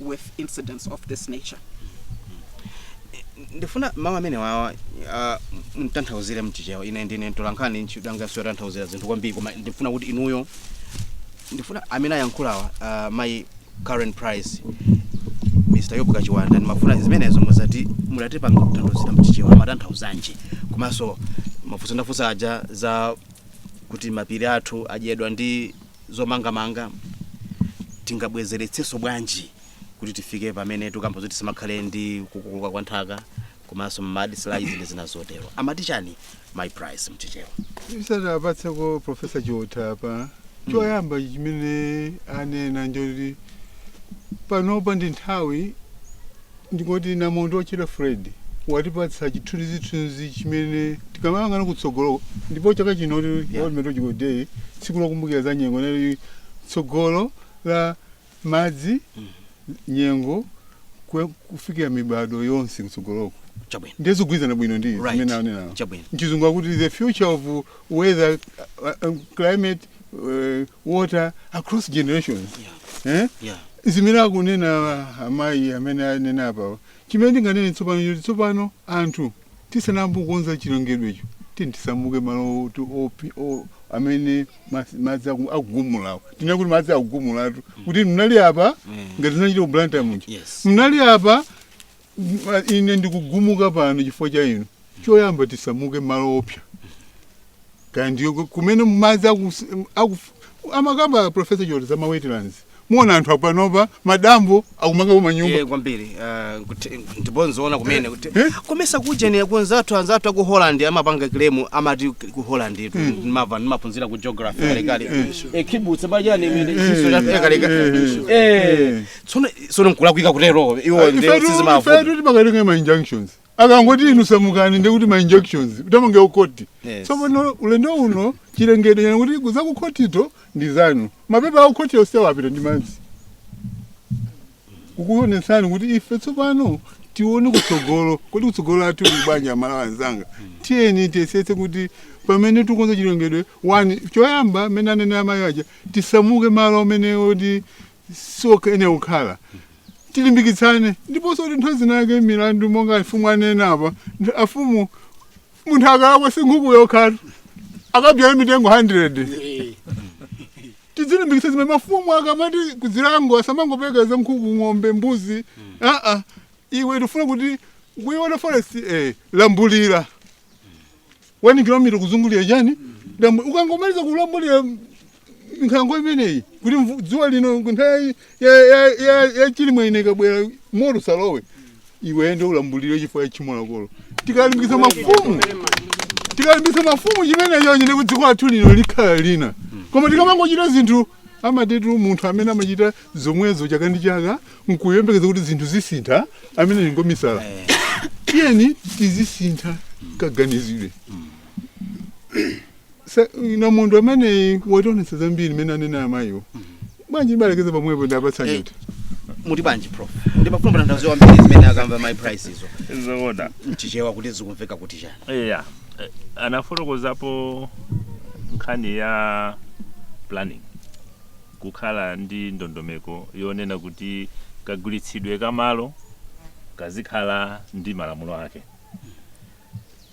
with incidents of this nature ndifuna mawu amene wawa ah, mtanthauzire mchichewa ine ndine mtolankhani ntchito yanga siyotanthauzira zinthu kwambiri koma ndifuna kuti inuyo ndifuna amene ayankhulawa ah, mayi karen price mr yobu kachiwanda ndimafuna zimenezo muzatimasulira pang'ono kutanthauzira mchichewa amatanthauzanji komanso mafunso ndafunsa aja za kuti mapiri athu adyedwa ndi zomangamanga tingabwezeretsenso bwanji kuti tifike pamene tikukamba zoti sipamakhale ndi kukokoloka kwa nthaka komanso mudslides ndi zina zotero amati chani mayi price mchichewa tisanawapatseko profesa chiotha apa choyamba chimene anena nchoti panopa ndi nthawi Ndikuti namondwe wotchedwa Freddy watipatsa chithunzithunzi chimene tikamayang'ana kutsogolo ndipo chaka chino pa Yeah. World Meteorological Day tsiku lokumbukira za nyengo inali tsogolo la madzi nyengo kwe- kufikira mibadwo yonse kutsogoloko chabwino ndiye zikugwirizana bwino ndi Right. zimene anena Chabwino. mchizungu akuti the future of weather uh, uh, climate eh, water across generations Yeah. eh? Yeah. zimene akunena amayi amene anena apawa chimene ndinganene tsopano nchoti tsopano anthu tisanayambe kukonza chilengedwecho tini tisamuke malo oti opi- o- amene mas- madzi aku- akugumulawo tinene kuti madzi akugumulatu kuti mnali apa Mm. ngati zinachita ku blantyre muja Yes. mnali apa Ine ndikugumuka pano chifukwa cha inu. Choyamba tisamuke malo oopsa. Kaya ndiyo kumene madzi amakamba Professor Chiotha za ma wetlands. Muona anthu panopa madambo akumangapo manyumba. Eh kwambiri ah, ndipo nzoona kumene kuti eh? komesa kujenera kunzathu anzathu aku Holland amapanga claim amati ku Holland itu hmm. ndimamva ndimaphunzira ku geography eh, kale kale. Eh kibutsa bajani imene chiso cha kale kale. Eh tsono tsono nkulakwika kutero iwo ndi Ifetu- sizimavuta ifetu timakatenga ma injunctions akangoti inu samukani ndekuti ma injunctions thamange ku khoti Yes. tsopano ulendo uno chilengedwe chanena kuti za ku khotizo ndi zanu mapepa aku khoti onse apita ndi madzi kukuonetsani kuti ife tsopano tione kutsogolo kuti kutsogolo kwathu kuli bwanji Amalawi anzanga tiyeni tiyesetse kuti pamene tikukonza chilengedwe wani choyamba mmene anene amayi aja tisamuke malo amene oti sioyenera kukhala tilimbikitsane ndiponso kuti nthawi zinake milandu monga afumu anena apa ntha- afumu munthu akalakwa si nkhuku yokhatu akabyale mitengo 100 tidzilimbikitsa zimene mafumu akamati ku zilango asamangopeka za nkhuku ng'ombe mbuzi aa iwe tifuna kuti ukuiona forest eh, lambulira 1 kilomita kuzungulira chani dambo ukangomaliza kulambulira nkhalango imeneyi kuti mvu- dzuwa lino nthawi ya- ya- ya- ya chilimwe ino ikabwera moto usalowe iwe nde ulambulire chifukwa cha tchimo lakolo tikalimbikitsa mafumu tikalimbikitsa mafumu chimenecho chine kuti dziko lathu lino likhala lina koma tikamangochita zinthu amatitu munthu amene amachita zomwezo chaka ndi chaka nkuyembekeza kuti zinthu zisintha ameneyo ngwamisala tiyeni tizisintha kaganizidwe Sa- namondwe ameneyu wationetsa zambiri mmene anena amayiwo bwanji ndibalekeza pamwepo ndiwapatse Eh, Chiotha muti bwanji prof ndimafuna ndaziwa mbiri zimene akamba mayi Price izo zoona mchichewa kuti zikumveka kuti chani eya eh, anafotokozapo nkhani ya planning kukhala ndi ndondomeko yonena kuti kagwiritsidwe ka malo kazikhala ndi malamulo ake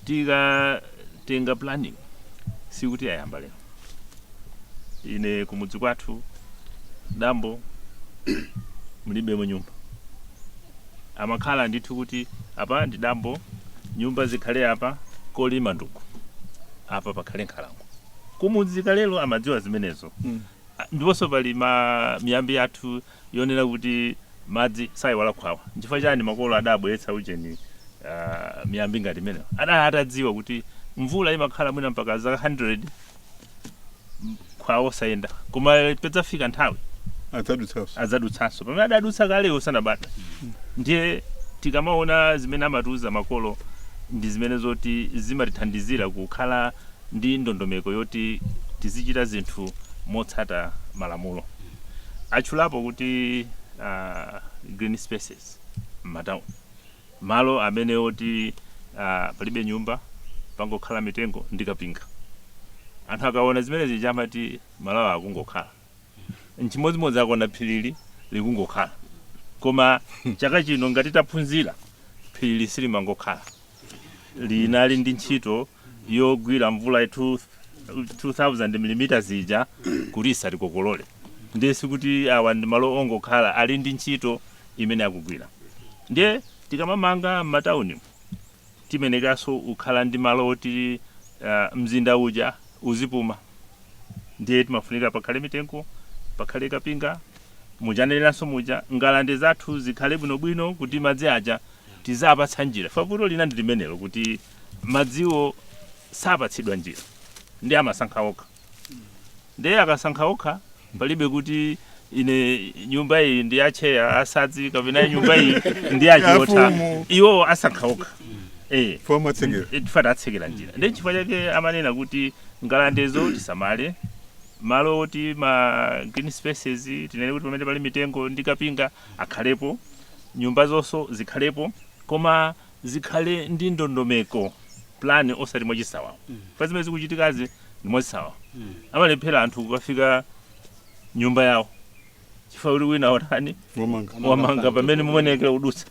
tikatenga planning sikuti yayamba lero ine kumudzi kwathu dambo mulibemo nyumba amakhala ndithu kuti apa ndi dambo nyumba zikhale apa kolima ndi uku apa pakhale nkhalango kumudzi kalelo amadziwa zimenezo Mm. Ah, ndiponso pali ma miyambi yathu yonena kuti madzi sayiwala khwawa nchifukwa chani makolo adabweretsa ujeni ah, miyambi ngati imeneyo adali atadziwa kuti mvula imakhala mwina mpaka zaka 100 khwawa osayenda koma padzafika nthawi adzadutsanso adzadutsanso pamene adadutsa kale iwo sanabadwe ndiye tikamaona zimene amatiuza makolo ndi zimene zoti zimatithandizira kukhala ndi ndondomeko yoti tizichita zinthu motsata malamulo. Atchulapo kuti uh, green spaces m'matauni, malo amene oti uh, palibe nyumba pangokhala mitengo ndi kapinga. Anthu akaona zimene zija amati malowa akungokhala. nchimodzimodzi akaona phirili lija likungokhala koma chaka chino ngati taphunzira phirili silimangokhala linali ndi ntchito yogwira mvula ya 2000 mm zija kuti isatikokolole ndiye sikuti awa ndi malo ongokhala ali ndi ntchito imene akugwira ndiye tikamamanga m'matauni Timenekanso kukhala ndi malo oti mzinda uja uzipuma. Ndiye timafunika pakhale mitengo, pakhale kapinga. Muja aneneranso muja, ngalande zathu zikhale bwinobwino kuti madzi aja tiziapatsa njira. Chifukwa vuto lina ndi limenelo kuti madziwo sapatsidwa njira, ndiye amasankha okha. ndiye akasankha okha palibe kuti ine nyumba iyi ndi ya cheya asadzi kapena nyumba iyi ndi ya Chiotha. iwo asankha okha chifukwa tawatsekera njira ndi chifukwa chake amanena kuti ngalandezo tisamale malo oti ma green spaces tinene kuti pamene pali mitengo ndi kapinga akhalepo nyumba zonso zikhalepo koma zikhale ndi ndondomeko plan osati mwachisawawa pa zimene zikuchitikazi ndi mwachisawawa amalephera anthu kukafika nyumba yawo chifukwa kuti wina watani wamanga pamene mumayenekera kudutsa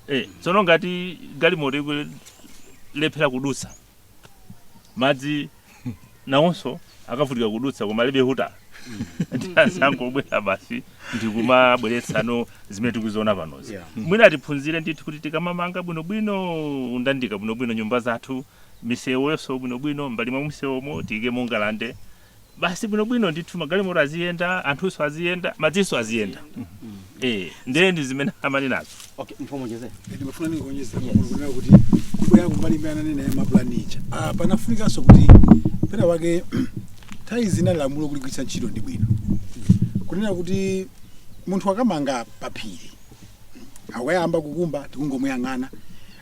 eh, tsono ngati galimoto ikulephera kudutsa madzi nawonso akavutika kudutsa koma alibe huta ndiye azangobwera basi ndikumabweretsano zimene tikuziona panozi Yeah. mwina tiphunzire ndithu kuti tikamamanga bwinobwino kundandalika bwinobwino nyumba zathu misewoyonso bwinobwino mbali mwa misewomo tiyike mangalande basi bwinobwino ndithu magalimoto aziyenda anthunso aziyenda madzinso aziyenda eh ndiye ndi zimene amanenazo okay mfumu jeze ndimafuna ndingoonjeza kunena kuti kubwera kumbali imene ananena ya mapulani ija Ah, panafunikanso kuti pena wake nthawi zina lamulo kuligwiritsa ntchito ndi bwino kunena kuti munthu akamanga paphiri akuyamba kukumba tikungomuyang'ana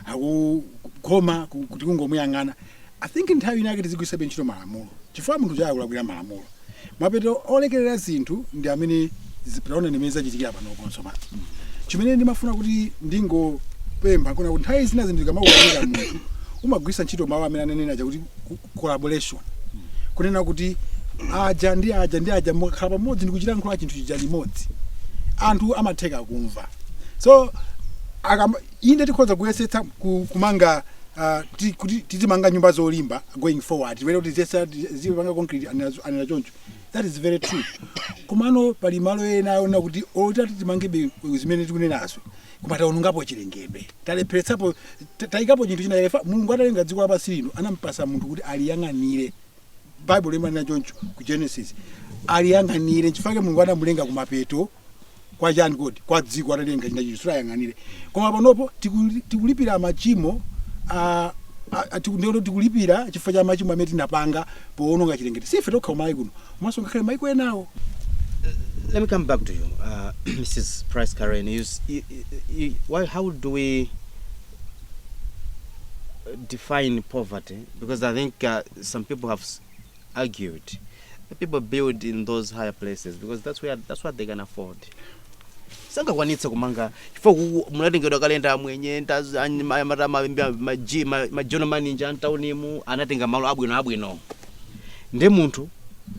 akukhoma ku- tikungomuyang'ana I think nthawi ina yake tizigwiritsa ntchito malamulo chifukwa munthu uja akulakwira malamulo. Mapeto olekelera zinthu ndi amene zi- taonani imene zachitikira panopo tsopano. Chimene ndimafuna kuti ndingopempha kunena kuti nthawi zina zinthu zikamakukanika munthu umagwiritsa ntchito mawu amene ananena aja kuti co- collaboration kunena kuti aja ndi aja ndi aja mukakhala pamodzi ndikuchilankhula chinthu chija limodzi anthu amatheka kumva so akam- Inde tikhoza kuyesetsa ku, kumanga ah, ti- kuti tizimanga nyumba zolimba going forward tiwere kuti ziyesa zipanga concrete anena zo- anena choncho that is very true komano pali malo ena owona kuti olo titati timangebe zimene tikunenazo koma taonongapo chilengedwe talepheretsapo ta- taikapo chinthu china chake Fa- mulungu atalenga dziko lapansi lino anampasa munthu kuti aliyang'anire baibulo limanena choncho ku genesis aliyang'anire chifukwa chake mulungu anamulenga kumapeto kwa chani kodi kwa dziko atalenga china chinthu ayang'anire koma panopo tikuli- tikulipira machimo ah, ah, ah, tiku- ndikuti tikulipira chifukwa cha machimo amene tinapanga poononga chilengedwe si ife tokha ku Malawi kuno komanso ngakhale maiko enawo Let me come back to you, uh, Mrs. Price Karen. You, s- you, you, you, why, how do we define poverty because I think uh, some people have s- argued that people build in those higher places because that's where that's what they can afford. sangakwanitse kumanga chifukwa kuku- munatengedwa kale ndi amwenye ndi azi- anyi- ma- mata- ma- ma- ma- ji- ma- ma general manager a mtaunimu anatenga malo abwino abwino nde munthu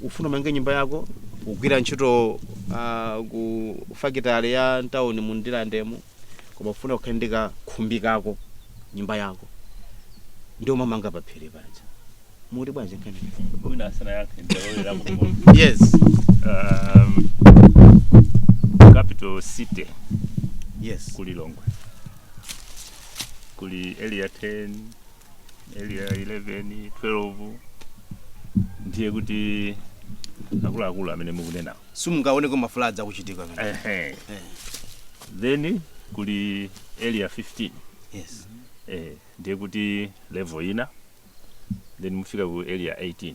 ufuna umange nyumba yako ugwira ntchito ah, ku fakitale ya mtaunimu Ndirandemu koma ufuna ukhale ndi kakhumbi kako nyumba yako ndiye umamanga paphiri paja mukuti bwanji nkhani mwina asanayankhe ndalolera mkomozi yes um, capital city yes ku Lilongwe kuli area 10 area 11 12 ndiye kuti akuluakulu amene mukunenawo simungaoneko ma floods akuchitika pamene. ehe then kuli area 15 yes eh, ndiye kuti level ina then mufika ku area 18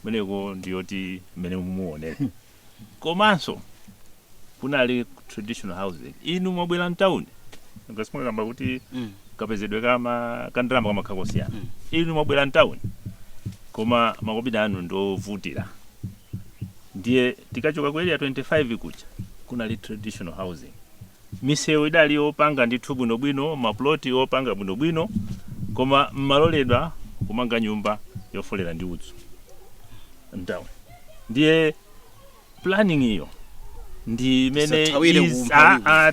kumeneko ndiye kuti mmene mumaonera komanso kunali traditional housing inu mwabwera mtawuni ngati mwakamba kuti Mm. kapezedwe kama kandalama kamakhala kosiyana Mm. inu mwabwera mtawuni koma makobidi anu ndi ovutira ndiye tikachoka ku area 25 kuja kunali traditional housing Misewu idali yopanga ndithu bwinobwino, mapuloti opanga bwinobwino, koma mmaloledwa kumanga nyumba yofolera ndi udzu m'tauni. Ndiye planning yo ndi imene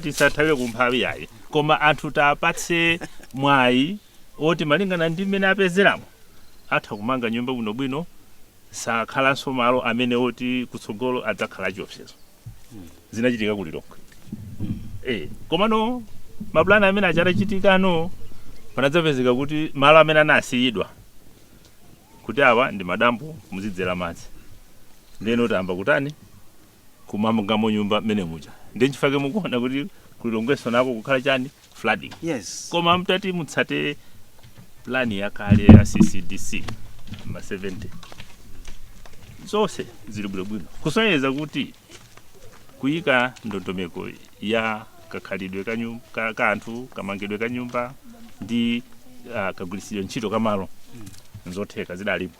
tisathawire ku mphawi yayi koma anthu tiwapatse mwayi oti malingana ndi mmene apezeramo atha kumanga nyumba bwinobwino sakhalanso malo amene oti kutsogolo adzakhala chiopsezo zinachitika ku lilongwe eh komano mapulani amene aja atachitikano panadzapezeka kuti malo amene anasiyidwa kuti awa ndi madambo muzidzera madzi ndeno tayamba kutani kumamangamo nyumba mmene muja ndi chifake mukuona kuti kulilongweso nako kukhala chani flooding yes koma mtati mutsate plan yakale ya ccdc ma 70 zonse zili bwinobwino kusonyeza kuti kuyika ndondomeko ya kakhalidwe ka nyu- ka- ka anthu kamangidwe ka nyumba ndi ah, kagwiritsidwe ntchito ka malo nzotheka zidalipo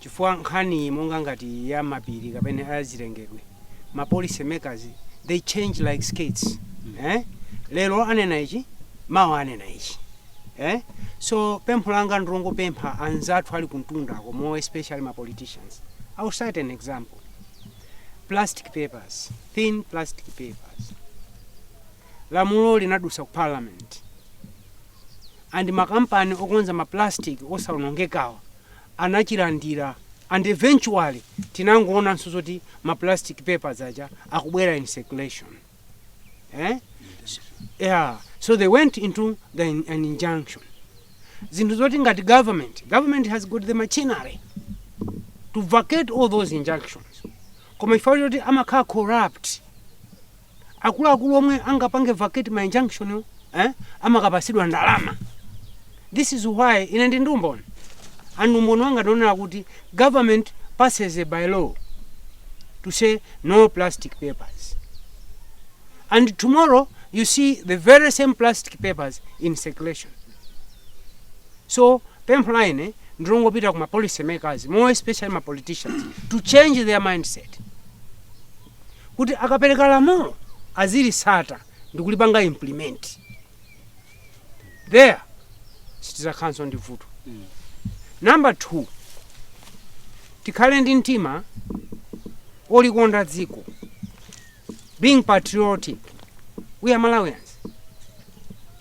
chifukwa nkhani monga ngati iyi ya mapiri kapena ya zilengedwe ma policy makers they change like skirts eh? lero anena ichi mawa anena ichi eh? so pempho langa ndilongopempha anzathu ali kuntundako more especially ma politicians i will cite an example plastic papers thin plastic papers lamulo linadusa ku parliament and makampani okonza maplastic osaonongekawa anachilandira and eventually tinangoonanso zoti ma plastic papers aja akubwera in circulation eh? so, yeah. so they went into the, in- an injunction zinthu zoti ngati government government has got the machinery to vacate all those injunctions koma chifukwa choti amakhala corrupt akuluakulu omwe angapange vacate ma injunction wo, eh, amakapasidwa ndalama this is why ine ndi ndumboni and umboni wanga ndionera kuti government passes a by law to say no plastic papers and tomorrow you see the very same plastic papers in circulation so pempho la ine ndilongopita ku ma policy makers more especially ma politicians to change their mindset kuti akapereka lamulo azilisata ndikulipanga implement there sitizakhalanso ndi vuto number two tikhale ndi mtima olikonda dziko being patriotic we are malawians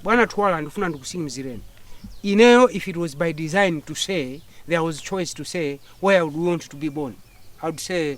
bwana twala ndifuna ndikusimizireni ineyo if it was by design to say there was choice to say where I would want to be born I would say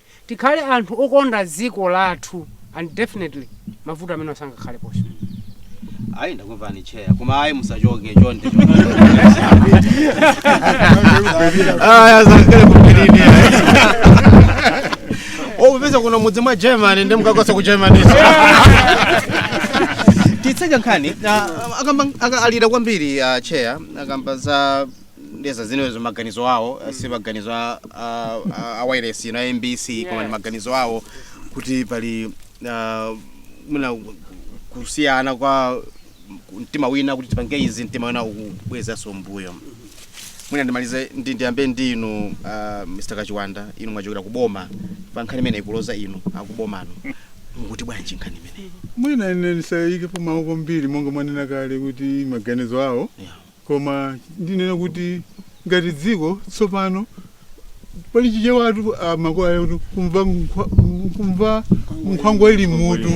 tikhale anthu okonda dziko lathu and definitely mavuto amenewa sangakhaleponso. Ayi ndakumvani chair koma ayi musachoke chonde opeza kuno mudzi mwa germany ndi mkakasa ku germany titseka nkhani ah, akamba aka- alira kwambiri ah, chair akamba za ndeza zinezo maganizo awo mm. si maganizo a, a, a, a wireless ino a mbc yes. koma ndi maganizo awo kuti pali uh, mwina kusiyana kwa mtima wina kuti tipange izi mtima wina ukubwezanso mbuyo mwina ndimalize ndi ndiyambe ndi inu uh, mr kachiwanda inu mwachokera kuboma pa nkhani imene ikuloza inu akubomano mukuti bwanji nkhani imeneyi mwina ine ndisayikepo mawu kwambiri monga mwanena kale kuti maganizo awo yeah. koma ndinene kuti ngati dziko tsopano pali chichewatu a makolo oti kumva nkhwa- kumva nkhwangwa ili mmutu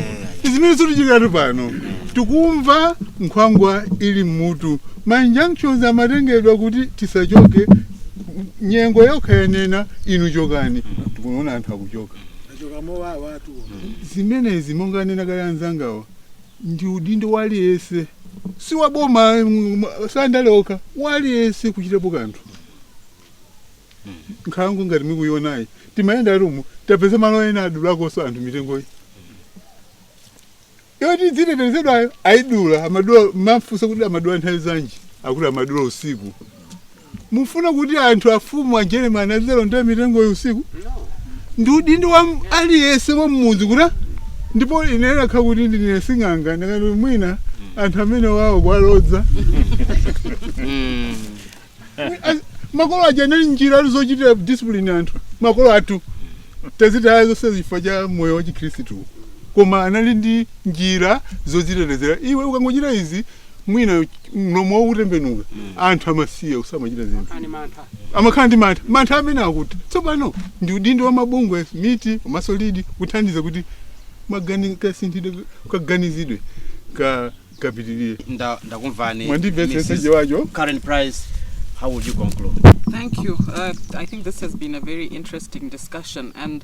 zimene zikutichitikiratu pano tikumva nkhwangwa ili mmutu ma injunctions amatengedwa kuti tisachoke nyengo yokhayo yanena inu chokani tikuona anthu akuchoka achoka mowawa anthuwo zimenezi monga anena kale anzangawa Ndi udindo wa aliyense si wa boma mm, si andale okha wa aliyense kuchitapo kanthu nkhalango ngati mukuionayi timayenda nawo umu tapeza malo ena adulakonso anthu mitengoyi yoti idzitetezedwayo ayidula amadula umafunsa kuti amadula nthawi zanji akuti amadula usiku Mufuna kuti anthu afumu a Jeremani azikalonda mitengoyo usiku? Ndi udindo wa m- aliyense wa mmudzi kuti ndipo ine lakalaka kuti ndine sing'anga ndakati mwina anthu amene awa kuwalodza As- makolo aja anali njira ali zochitira discipline anthu makolo athu tazitaya zonse chifukwa cha moyo wa chikhristu koma anali ndi njira zodzitetezera iwe ukangochita izi mwina mlomo wawo utembenuka anthu amasiya usamachita zinthu ani mantha amakhala ndi mantha mantha amene akuti tsopano ndi udindo wa mabungwe MEET komanso LEAD kuthandiza kuti magani- kasinthidwe kaganizidwe ka- kapitirire Nda- ndakumvani mwandimvetsetsa Mr Chiwacho Karen Price how would you conclude Thank you. Uh, I think this has been a very interesting discussion, and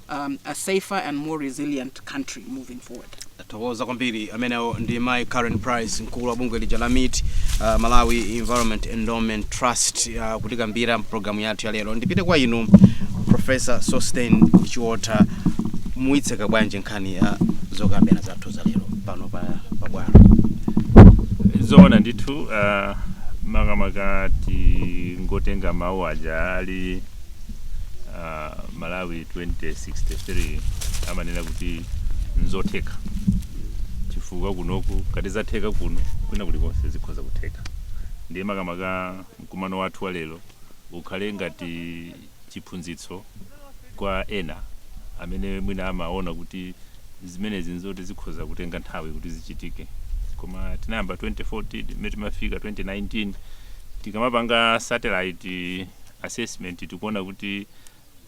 um, a safer and more resilient country moving forward. tathokoza kwambiri amenewo ndi mai karen price mkulu wa bungwe lija la meet uh, malawi environmental endowment trust uh, kutikambira pulogalamu yathu ya lero ndipite kwa inu professor sosten chiotha muitseka bwanji nkhani ya zokambirana zathu za lero pano pa pa bwalo zoona ndithu uh, makamaka tingotenga mawu aja ali malawi 2063 amanena kuti nzotheka chifukwa kunoku ngati zatheka kuno kwina kulikonse zikhoza kutheka ndiye makamaka mkumano wathu wa lero ukhale ngati chiphunzitso kwa ena amene mwina amaona kuti zimenezi nzoti zikhoza kutenga nthawi kuti zichitike koma tinayamba 2014 mmene timafika 2019 tikamapanga satellite assessment tikuona kuti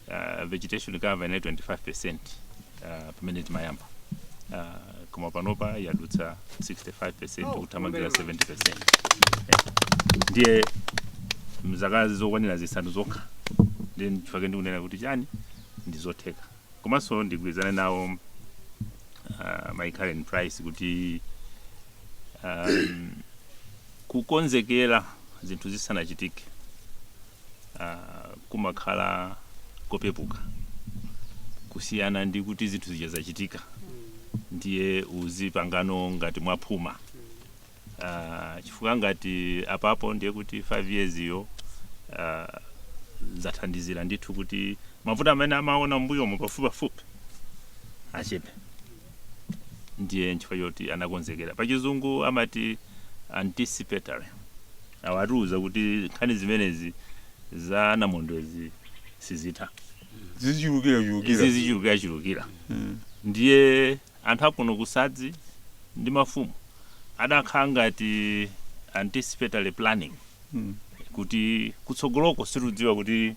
uh, vegetation cover inali 25% uh, pamene timayamba uh, koma panopa yadutsa 65% kuthamangira 70% Eh, ndiye mzaka zokwanira zisanu zokha ndiye chifukwa ndikunena kuti chani ndizotheka Komanso ndigwirizane nawo uh, Mai Karen Price kuti um, kukonzekera zinthu zisanachitike uh, kumakhala kopepuka kusiyana ndi kuti zinthu zija zachitika ndiye uzipangano ngati mwaphuma Ah, chifukwa ngati apapo ndiye kuti 5 years yo ah, zathandizira ndithu kuti mavuto amene amaona mbuyomo pafupipafupi achepe ndiye nchifukwa choti anakonzekera pachizungu amati anticipatory awa atiuza kuti nkhani zimenezi za namondwezi sizitha zizichulukirachulukira ndiye Anthu akuno ku sadzi ndi mafumu adakhala ngati anticipatory planning kuti kutsogoloko sitidziwa kuti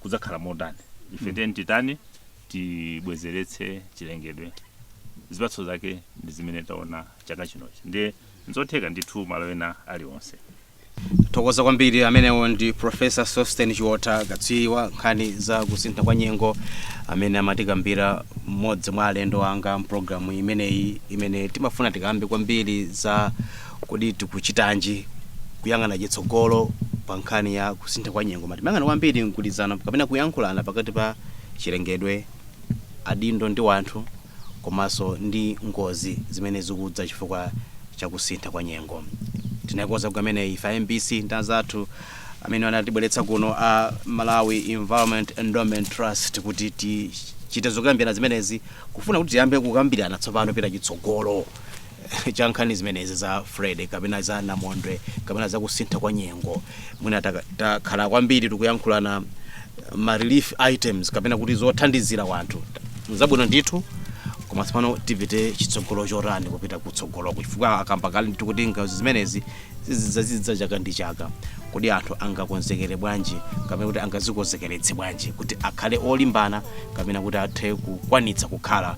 kudzakhala motani ife tiyeni titani tibwezeretse chilengedwe zipatso zake ndi zimene taona chaka chinochi ndiye nzotheka ndithu malo ena aliwonse. Tithokoza kwambiri amenewo ndi Professor Sosten Chiotha katswiri wa nkhani za kusintha kwa nyengo amene amatikambira mmodzi mwa alendo anga mpulogalamu imeneyi imene timafuna tikambe kwambiri za kodi tikuchitanji kuyang'ana chitsogolo pa nkhani ya kusintha kwa nyengo ma timayang'ana kwambiri mgwirizano kapena kuyankhulana pakati pa chilengedwe adindo ndi wanthu komanso ndi ngozi zimene zikudza chifukwa cha kusintha kwa nyengo. Tinaikonza programu imeneyi ife a mbc ndi anzathu amene anatibweretsa kuno a Malawi Environmental Endowment Trust kuti tichite zokambirana zimenezi kufuna kuti tiyambe kukambirana tsopano kupita chitsogolo. cha nkhani zimenezi za freddy kapena za namondwe kapena za kusintha kwa nyengo mwina taka- takhala kwambiri tikuyankhulana ma relief items kapena kuti zothandizira wanthu zabwino ndithu koma tsopano tipite chitsogolo chotani kupita kutsogoloko chifukwa akamba kale ndithu kuti ngozi zimenezi zizidza chaka ndi chaka kodi anthu angakonzekere bwanji kapena kuti angazikonzekeretse bwanji kuti akhale olimbana kapena kuti athe kukwanitsa kukhala